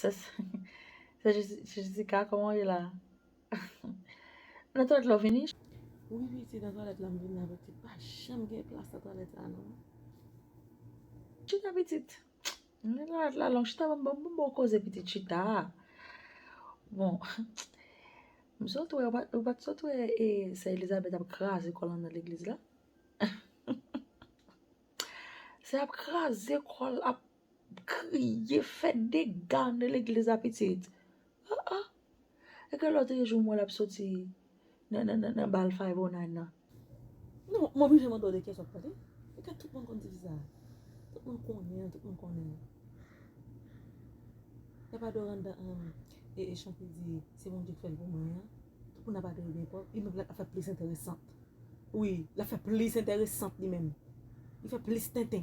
Se Jessica, koman ou ye la? Nan twalet la ou vini? Wi piti, nan twalet la m vini la piti. Pa janm gen plas nan twalet la non. Chita piti. Nan twalet la long. Chita banm bon koze piti chita. Bon. M sot wè, ou pat sot wè e sè Elizabeth ap kraze kòl anndan legliz la? Sè ap kraze kòl ap. Kriye fè dega nan legliz la pitit. Ah ah. E ke lòt e jou m wè l ap soti nan bal 509 nan. Non, m oblije mande w de kesyon pou tande. E ke tout moun konn tifi sa a? Tout moun konnen l, tout moun konnen l. E pa Doranda e chante di se Bondye k fè l pou mwen an. Tout moun ap adore l byen fò. Li menm l ap fè plis enteresant. Wi, l ap fè plis enteresant li menm. Li fè plis tenten.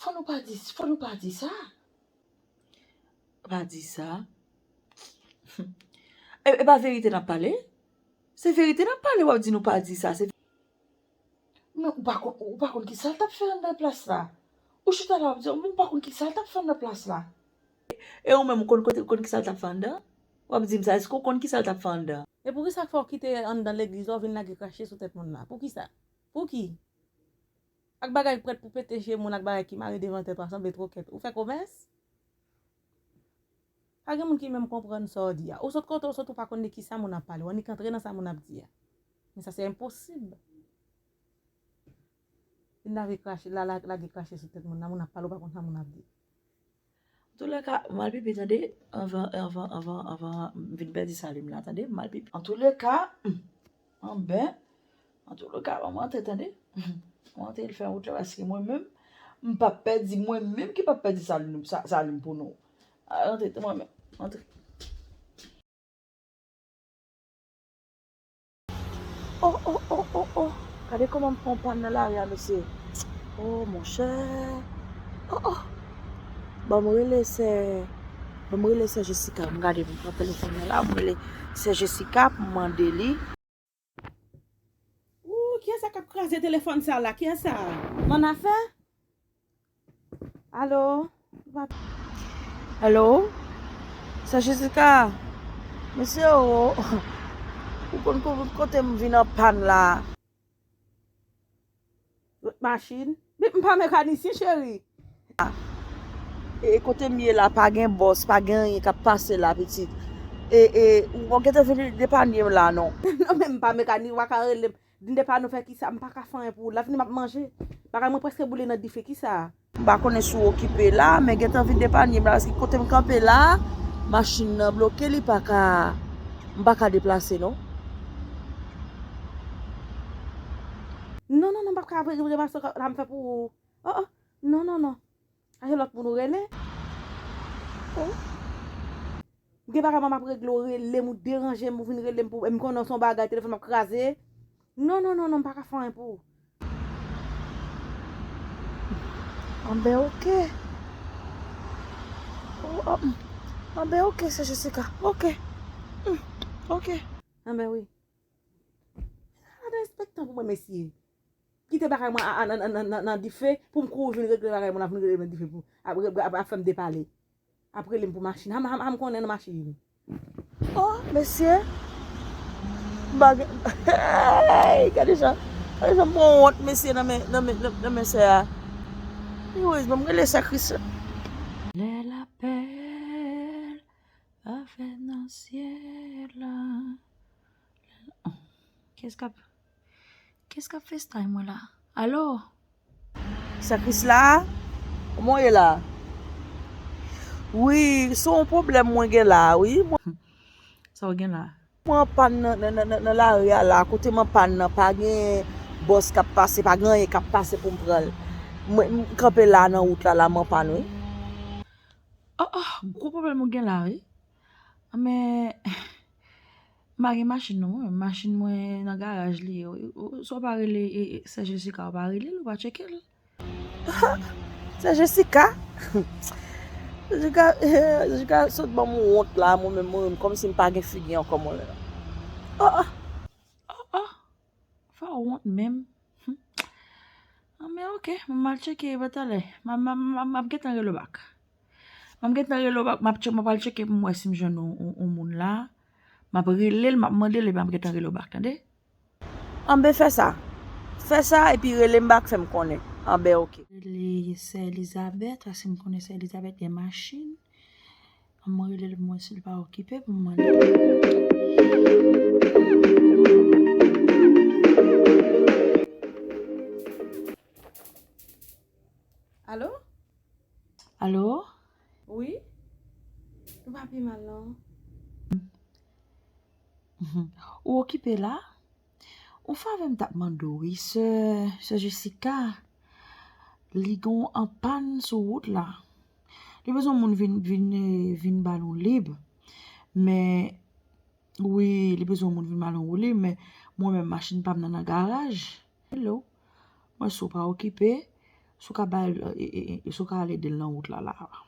Fò nou pa di, fò nou pa di sa. Pa di sa. E pa verite nap pale? Se verite nap pale wap di nou pa di sa. Men ou pa konn, ou pa konn ki sal tap fè anndan plas la. Ou chita la wap di, men ou pa konn ki sal tap fè anndan plas la. E ou menm ou konn kote, ou konn ki sal tap fè anndan? Wap di m sa, eske ou konn ki sal tap fè anndan? E poukisa fòw kite anndan legliz la ou vin lage krache sou tèt moun la? Poukisa? Pouki? Ak bagay prèt pou pete je moun ak bagay ki mare devan tèt w a sanble twokèt. Ou fè komès? Pa gen moun ki menm konprann sa w di a. Ou sot kote w sot ou pa konn de ki sa moun ap pale. W annik antre nan sa moun ap di a. Men sa se enposib. Vin lave krache, lage krache sou tèt moun nan moun ap pale ou pa konn sa moun ap di. Antoulèka, m al pipi tande, anvan, anvan, anvan, anvan m vin pèdi saliv m la tande, m al pipi. Antoulèka, m anben, antoulèka banm rantre tande, m rantre l fè wout la paske mwen menm m pap pèdi, mwen menm ki pap pèdi saliv m pou nou. Al rantre tande mwen menm, rantre. Oh oh oh oh oh Gade kòman m pran yon pàn nan lari a mesye Oh monchè Oh oh Bon m rele sè Bon m rele sè Jessica M gade m pran telefòn nan la m rele sè Jessica pou m mande li Ooh kiyès sa k ap kraze telefòn sa la kiyès sa a? Manafè? Alo. Alo. Sè Jessica. Mesye o. Ou konn kou kote m vin an pàn la a. Lòt machin. Bip m pa mekanisyen cheri. E kote m ye la pa gen bòs, pa gen anyen k ap pase la pitit. E ou pa gen tan vin depanye m la non. Non men m pa mekanisyen ou pa ka rele m. Dnde pa nou fè kisa m paka fanyen pou lavni map manje bagay mwen preske boule nan dife kisa. M pa konnen si w okipe la, men gentan vin depanye m la paske kote m kanpe la a machin nan bloke li pa ka m pa ka deplase non. Non non non m pap ka vre vre maestro sa m fè pou ou oh oh non non non. A gen lòt moun ou rele? Oh. Gen bagay mwen map regle ou relem ou deranjem ou vin relem pou e m konnen son bagay telefon ap kraze. Non non non non m paka fè anyen pou ou. Anben ok. Anben ok sè Jessica. Ok. Ok. Anben wi. Ala de respektan pou mwen mesye. Kite bagay mwen a nan dife poum kouri vin regle bagay moun ap vin relem nan dife pou ap fèm depale ap relem pou machin ha m konnen nan machin oh mesye bagay gade jan gade jan m pran wont mesye nan men sè a anyways banm rele sè kris la lè lapèl pa fèt nan syèl la lè lapèl pa fèt nan syèl la Kes kap festay mwen la alo. Sè krisla kman w ye la. Wi se yon pwoblèm mwen gen la wi. Sa w gen la. Mwen anpàn nan lari a la kote m anpàn nan pa gen bòs kap pase pa gen anyen kap pase pou m pran l mwen kanpe la nan wout la la m anpàn wi. Oh oh gwo pwoblèm ou gen la wi. An men. M pa gen machin non mwen, machin mwen nan garaj li ye wi, si w pa rele sè Jessica w pa rele l, w pa tcheke l. Sè Jessica? Jessica sot ban m yon wont la mwen menm m ri m kòmsi m pa gen figi ankò mwen menm. Fè w wont menm. An men ok, mwen mal tcheke e pa talè. Map gentan rele w bak. Map gentan rele w bak, map tcheke, map al tcheke pou mwen si m jwenn yon moun la. Map rele l, map mande l e map gentan rele w bak, tande? An ben fè sa. Fè sa e pi rele m bak fè m konnen. An ben ok. Rele sè Elizabèt, fè si m konnen sè Elizabèt gen machin. An m rele l pou m wè si l pa okipe pou m mande l. Alo? Alo? Wi? Ou pa pi mal non? Ou okipe la? On favè m tap mande w wi sè, sè Jessica, li gen yon anpàn sou wout la. Li bezwen moun vin vin vin ba l yon lib. Men wi, li bezwen moun vin ba l yon wout lib men mwen menm machin pa m nan nan garaj. Hello, mwen si w pa okipe, si w ka ba l si w ka al ede l nan wout la la a.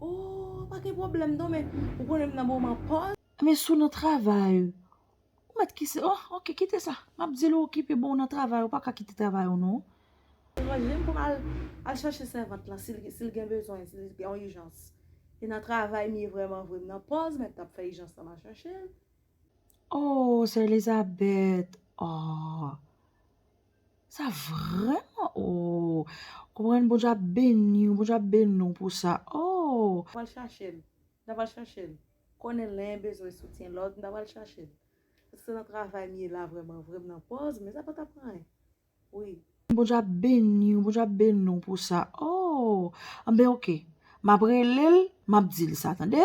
Oh, pa gen pwoblèm non men ou konnen m nan moman pòz. Men sou nan travay ou. Ou met ki se oh ok kite sa. Map di l ou okipe bon ou nan travay ou pa ka kite travay ou non. Mwen menm pou m al al chache sèvant lan si l si l gen bezwen si l gen yon ijans. E nan travay m ye vrèman vre m nan pòz mèt ap fè ijans lan m al chache l. Oh sè Elizabèt oh sa vrèman oh konprann Bondye ap beni w Bondye ap beni w pou sa oh. Mwen al chache l. N ap al chache l. Konnen len bezwen soutyen lòt m ta pral chachel paske se nan travay m ye la vrèman vre m nan pòz men sa pa tap anyen wi. Bondye ap beniw bondye ap beni w pou sa ooh anben ok map relel map dil sa tande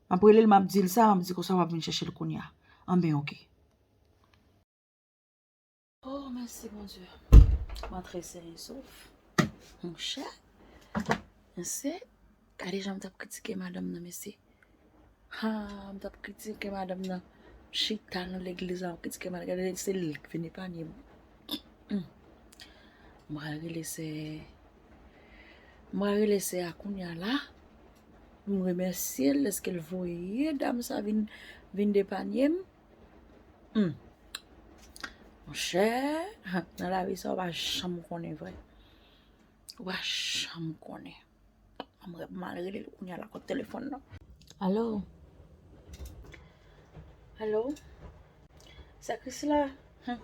map relel map dil sa map di konsa wap vin chèchel kounya anben ok. Oh mèsi bondye. Mwen trese yon souf. Mon chè. Mèsi. Kade jan m tap kritike madam nan mèsi. Ha m tap kritike madam nan. Chita nan legliz la m kritike madam nan. Gade se li ki vin epanye m. M pral rele se M pral rele se a kounya la. M remèsye l deske l voye dam sa vin depanye m. Humm Monchè nan lavi sa ou pa janm konnen vre Ou pa janm konnen An mwen mal rele l kounya lakòt telefòn nan Alo Alo Sè Krisla Humm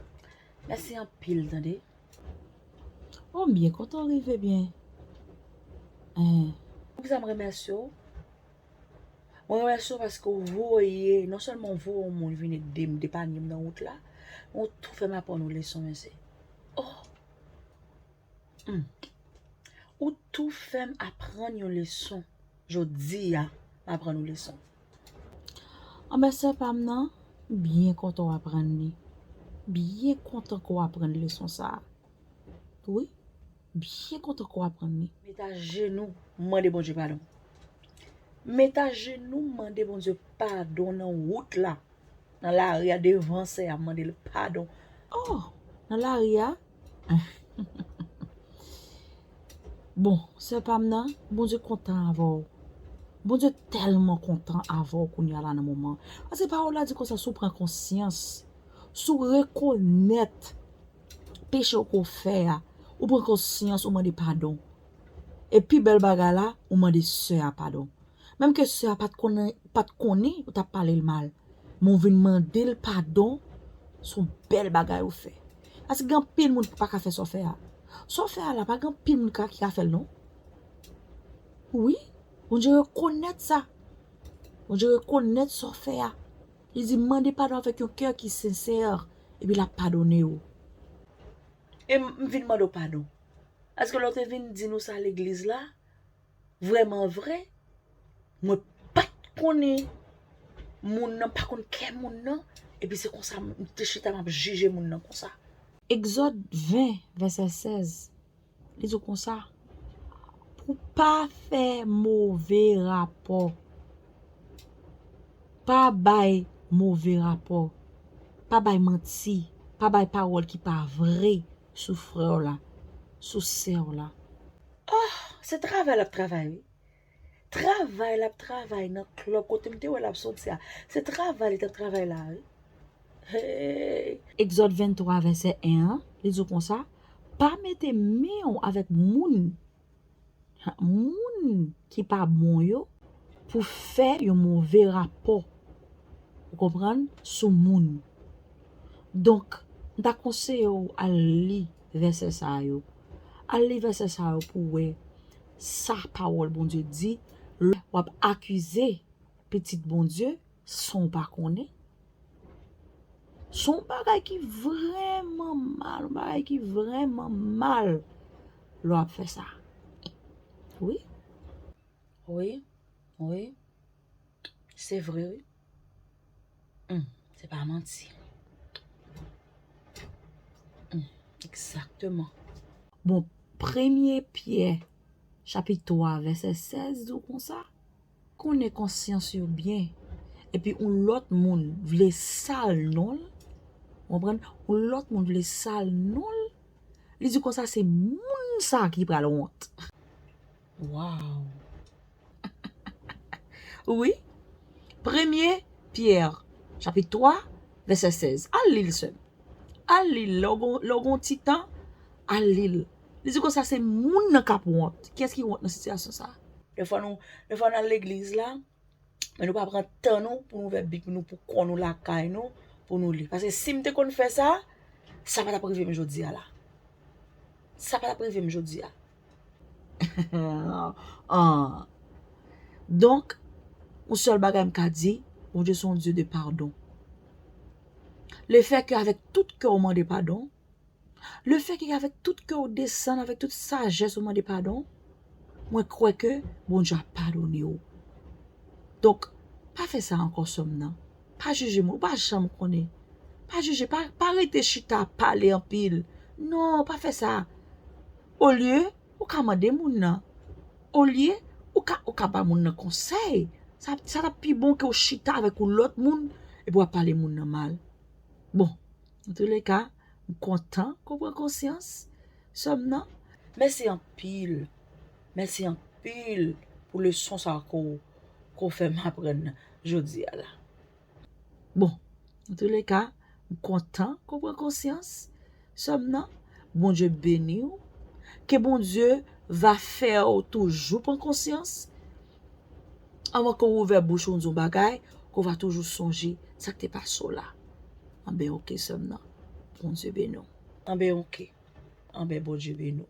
Mèsi anpil tande Oh m byen kontan w rive byen Humm Poukisa m remèsye w Mwen remèsye ou paske ou voye, non sèlman ou voye yon moun vin ede m depanye m nan wout la, men ou tou fè m aprann yon leson mèsi. Oh! Hum! Ou tou fè m aprann yon leson jodi a, m aprann yon leson. An men sè pa m nan, m byen kontan w aprann li. M byen kontan ke w aprann leson sa a. Wi, Byen kontan ke w aprann li. Met a jenou mande Bondye padon. Met a jenou mande Bondye padon nan wout la, nan lari a, devan sè a mande l padon. Oh! Nan lari a? Bon, sè pa m nan, Bondye kontan avè w. Bondye tèlman kontan avè w kounya la nan moman. Paske pawòl la di konsa si w pran konsyans, si w rekonèt peche ou ke w fè a, ou pran konsyans, ou mande padon. E pi bèl bagay la, ou mande sè a padon. Menm ke sè a pa t konnen ou t ap pale l mal, men w vin mande l padon, se yon bèl bagay ou fè. Paske gen anpil moun ki pa ka fè sa w fè a. Sa w fè a la, pa gen anpil moun ki ka fè l non. Wi, Bondye rekonèt sa. Bondye rekonèt sa w fè a. Li di, Mande padon avèk yon kè ki sensè, epi l ap padone ou. E m vin mande w padon. Èske lè w te vin di nou sa legliz la, vrèmanvre, mwen pa t konnen moun nan, m pa t konn kè moun nan, epi se konsa m te chita m ap jije moun nan konsa? Egzòd 20, vèsè 16, Li di w konsa, pou pa fè move rapò. Pa bay move rapò. Pa bay manti. Pa bay pawòl ki pa vre sou frè w la, sou sè w la. Oh, se travay l ap travay wi. Travay lap travay nan club kote m te wè lap soti a se travay li tap travay la wi hey. Egzòd 23 vèsè 1 an li di w konsa, Pa mete men w avèk moun, moun ki pa bon yo pou w fè yon move rapò, ou konprann, sou moun. Donk, m ta konseye w al li vèsè sa yo, al li vèsè sa yo pou w wè. Sa pawòl Bondye di, lè w'ap akize pitit Bondye san w' pa konnen, son bagay ki vrèman mal, yon bagay ki vrèman mal lè w'ap fè sa. Wi. Wi. Wi. Se vre wi. Humm se pa manti. Humm exactement. Bon premye pyè chapit 3 vèsè 16 di w konsa, konnen konsyans yo byen epi yon lòt moun vle sal non l, ou konprann, yon lòt moun vle sal non l, li di konsa se moun sa ki pral wont. Waww wi premye pierre chapit 3 vese 16 al lil sem al lil le ou gon ti tan al lil li di konsa se moun nan kap wont kiyes ki wont nan sitiyasyon sa. Dèfwa nou dèfwa nan legliz la Men nou pa pran tan nou pou nou ouvè bib nou pou kò nou lakay nou pou nou li. Pase si m te konn fè sa, sa pa t ap rive m jodi a la. Sa pa t ap rive m jodi a. Donk, yon sèl bagay m ka di, Bondye se yon Dye de padon. Lefètke avèk tout kè w mande padon, Le fè ke avèk tout kè ou desann, avèk tout sajès ou mande padon, mwen kwè ke Bondye ap padone ou. Donk, pa fè sa ankò sè m nan. Pa jije moun, ou pa janm konnen. Pa jije, pa rete chita ap pale anpil. Non, pa fè sa. Olye, ou ka mande moun nan. Olye, ou ka ba moun nan konsèy. Sa t ap pi bon ke ou chita avèk yon lòt moun epi w ap pale moun nan mal. Bon. Nan tou le ka, m kontan ke w pran konsyans, sè m nan. Mèsi anpil, mèsi anpil pou leson sa a ke w fè m aprann jodi a la. Bon, nan tou le ka, m kontan ke w pran konsyans, sè m nan. Bondye beni w. Ke Bondye va fè w toujou pran konsyans. Anvan ke w ouvè bouch ou di yon bagay, ke w va toujou sonje sa k te pase w la. Anben ok sè m nan. Bondye beni w. Anben ok. Anben Bondye beni w.